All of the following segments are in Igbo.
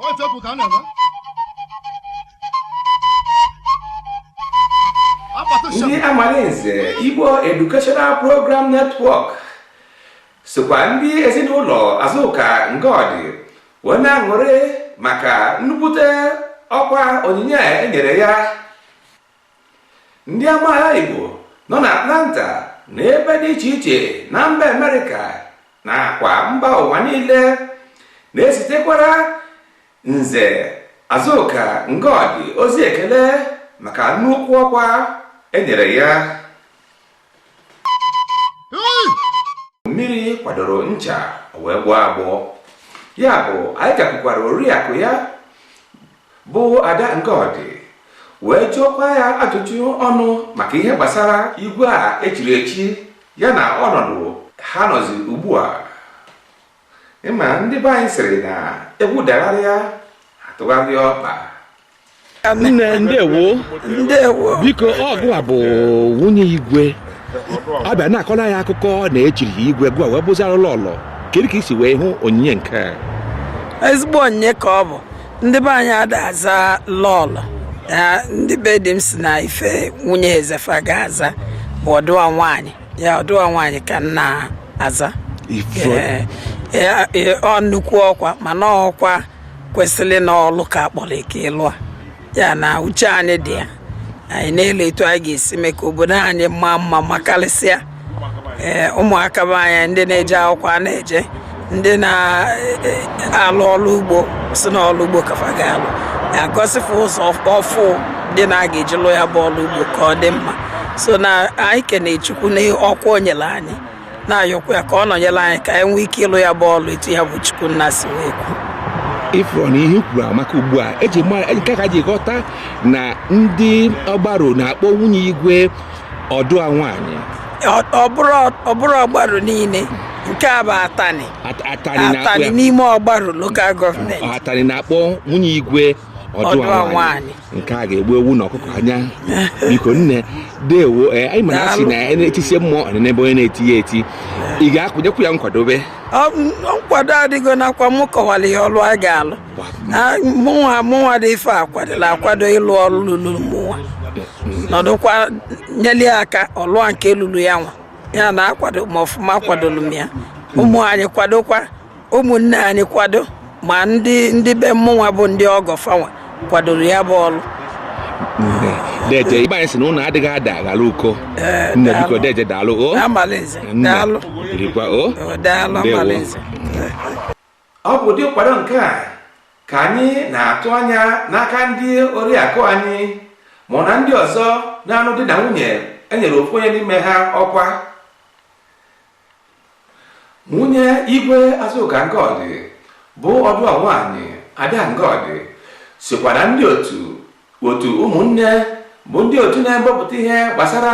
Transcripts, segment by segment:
ọjọpụ ka a na-eme ndị Amalinze Igbo Educational Program Network sokwa ndị ezinụlọ Azụka Ngọdị wee na-aṅụrị maka nnukwute ọkwa onyinye e nyere ya ndị amaala Igbo nọ na Atlanta na ebe dị iche iche na mba Amerịka nakwa mba ụwa niile na-ezitekwara nze Azuka Ngọdị ozi ekele maka nnukwu ọkwa e nyere ya mmiri kwadoro ncha o wee gbọọ agbọ ya bụ anyị gakwukwara oriakụ ya bụ Ada Ngọdị wee jụọkwa ya ajụjụ ọnụ maka ihe gbasara igwe a e chiri echi ya na ọnọdụ ha nọzi ugbu a ịma ndị be anyị sịrị na egwu dagharịa a tụgharịa ọkpa nne ndewo ndewo biko ọ gụwa bụ nwunye igwe a bịa na-akọla ya akụkọ na e chiri ya igwe gụwa wee bụzịrị lọlọ kedu ka i si wee hụ onyinye nke a ezigbo onyinye ka ọ bụ ndị be anyị ada aza lọlọ ya ndị be dị m si na ife nwunye eze fa ga-aza bụ ọdụwa nwaanyị ya ọdụwa nwaanyị ka m na-aza Ife- Ee, ya- ya- ọ nnukwu ọkwa mana ọkwa kwesịrị na ọlụ ka a kpọrọ ike ịlụ a ya na uche anyị dị ya anyị na-ele etu anyị ga-esi mee ka obodo anyị maa mma makarịsịa ee ụmụaka be anyị ndị na-eje akwụkwọ a na-eje ndị na-alụ ọrụ ugbo si na ọrụ ugbo ka fa ga-alụ e gosi fa ụzọ ọfụụ dị na a ga-eji lụ ya bụ ọrụ ugbo ka ọ dị mma so na anyị kene chukwu na ọkwa o nyere anyị na-ayọkwa ya ka ọ nọnyere anyị ka anyị nwee ike ịlụ ya bụ ọrụ etu ya bụ chukwu nna si wee kwu ị fụrụ na ihe i kwuru amaka ugbu a eji mara nke ka m ji ghọta na ndị Ọgbaru na-akpọ nwunye igwe ọdụwa nwaanyị ọ bụrọ ọgbaru niile nke a bụ atani atani n'ime ọgbaru lokal gọọmenti atani na-akpọ nwunye igwe ọdụwa nwaanyị nke a ga-egbu ewu na ọkụkọ anya biko nne ndewo eh, anyị ma na a sị na e tisie mmụọ n'ebe onye na-eti ya eti ị ga-akwụnyekwu ya nkwadobe nkwado adịgo nakwa m kọwara ihe ọlụ a ga-alụ mụnwa mụnwa dị ife akwadola akwado ịlụ ọrụ lụrụ mụnwa nọdụkwa nyeli aka ọlụa nke lụrụ ya nwa ya na akwado ma ọfụma akwadolu m ya ụmụ anyị kwadokwa ụmụnne anyị kwado ma ndị ndị be mụnwa bụ ndị ọgọ fanwa kwadoro ya bụ ọrụ deje ndị be anyị sị na ụnụ adịghị ada aghara uko eh, nne biko deje daalụ o daalụ daalụ ọ bụ ụdị nkwado nke a ka anyị na-atụ anya n'aka ndị oriakụ anyị ma na ndị ọzọ na-anụ di na nwunye enyere ofu onye n'ime ha ọkwa nwunye igwe azụka ngọdị bụ ọdụa nwaanyị ada ngọdị sikwa na ndị otu otu ụmụnne bụ ndị otu na-ewepụta ihe gbasara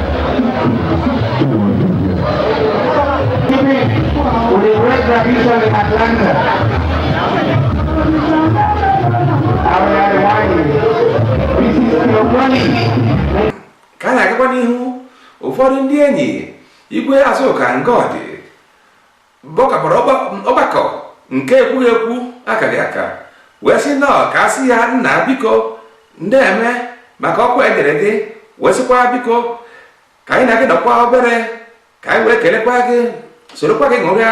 ka a na-agakwa n'ihu ụfọdụ ndị enyi igwe azụka ngọdị Gbakọbara ọgbakọ nke ekwughị ekwu akaghị aka wee sị na ọ ka a sị ya nna biko ndeme maka ọkwa enyere gị wee sịkwa biko ka anyị na gị nọkwa obere ka anyị wee kelekwa gị sorokwa gị ṅụrịa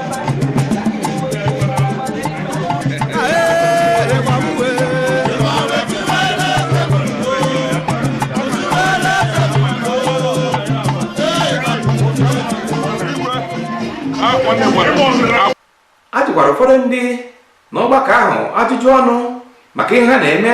a jụkwara ụfọdụ ndị n'ọgbakọ ahụ ajụjụ ọnụ maka ihe ha na-eme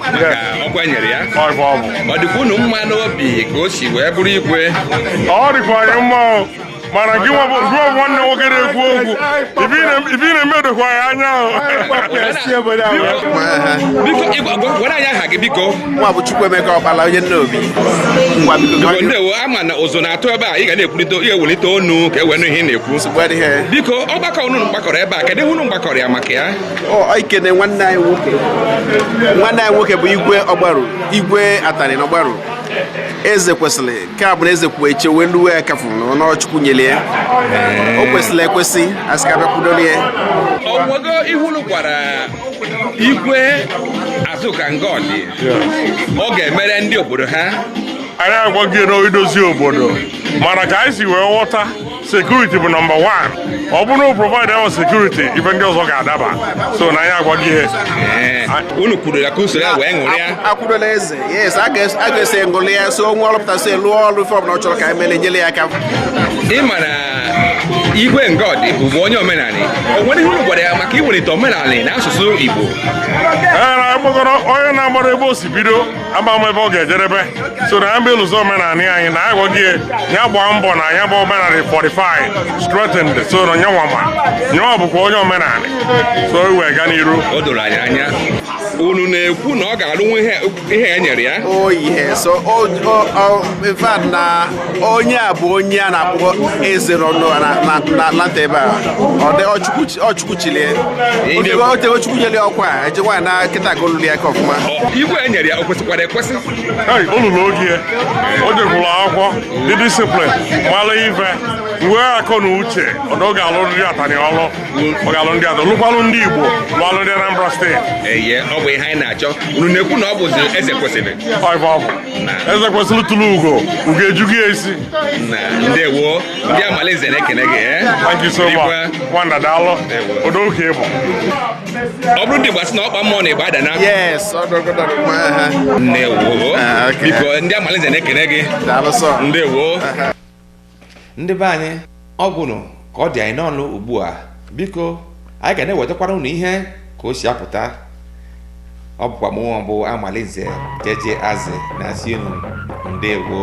maka ọkwa enyere ya ọ dịkwa unu mma n'obi ka o si wee bụrụ igwe ọ dịkwa anyị mma mana gị nwa bụ gụọ nwanne nwoke na-ekwu okwu ibi na-eme dokwa ya anya gwara anyị aha gị biko mụwa bụ Chukwuemeka Ọkpala onye Nnobi ndewo a ma na ụzụ na-atụ ebe a ị ga na-ekwurịta ihe welite ọnụ ka e wee nụ ihe ị na-ekwu biko ọgbakọ unu gbakọrọ ebe a kedụ ihe unu gbakọrọ ya maka ya ikene nwanne anyị nwoke nwanne anyị nwoke bụ igwe ọgbaru igwe atani na ọgbaru eze kwesịrị nke a bụrụ eze kwuo eche wee lue ya aka a fụ na ọ chukwu nyere ya o kwesịrị ekwesị a sị ka a bịa kwudoro ya o nwego ihe unu gwara igwe azụka ngọdị ọ ga-emere ndị obodo ha anyị agwaghị na idozi obodo mana ka anyị si wee ghọta security bụ number one ọ bụrụ na provide ahụ security ife ndị ọzọ ga-adaba so na anyị agwa gị ihe eh, unu kwuru ya ka unu soro ya wee ṅụrịa akwụdola eze yes a ga-eso ṅụlịa so onwe ọlụpụta so lụọ ọrụ ife ọbụla ọ chọrọ ka anyị mere nyere ya aka ị ma na igwe ngọdị bụ onye omenala o nwere ihe unu gwara ya maka iwelite omenala na asụsụ igbo eh, onye na-amarọ ebe o si bido ama m ebe ọ ga-ejerebe so na mbe ụzọ omenala anyị na anyị gwaghị ya gbaa mbọ na ya bụ omenala fortified strengthened so na nyanwa ma nyanwa bụkwa onye omenala so iwe ga n'iru o doro anyị anya unu na-ekwu na ọ ga-alụnwu ihe e nyere ya oh yes so oh, oh, oh, in fact na onye a bụ onye a na-akpọ eze n'ọnụ nata ebe a ọ chukwu chili e o tego chukwu nyere ọkwa a eje nwaanyị na nkịta ka o lulu ya aka ọfụma igwe e nyere ya o kwesịkwara ekwesị o lulu ogo o jekwuru akwụkwọ dị disciplined mara ife nwee akọ na uche na ọ ga-alụ ndị atani ọlụ ọ ga-alụ ndị atọ lụkwalụ ndị igbo lụalụ ndị anambra steeti ọ bụ ihe anyị na-achọ unu na-ekwu na ọ bụzi eze kwesịrị eze kwesịrị tụrụ ugo ugo ejugo ya isi ndewo ndị amalinze na-ekene gị eh? thank you so much nwanda daalụ odo oke ịbụ ọ bụrụ ndị gbasị na ọkpa mmụọ na-egbe ada na ndewo ah, biko ndị amalinze na-ekene gị ndewo ndị be anyị ọ gwụrụ ka ọ dị anyị n'ọnụ ugbu a biko anyị ga na-ewetakwara unu ihe ka o si apụta ọ bụkwa mụnwa bụ amalinze jeje azị na-asị unu ndewo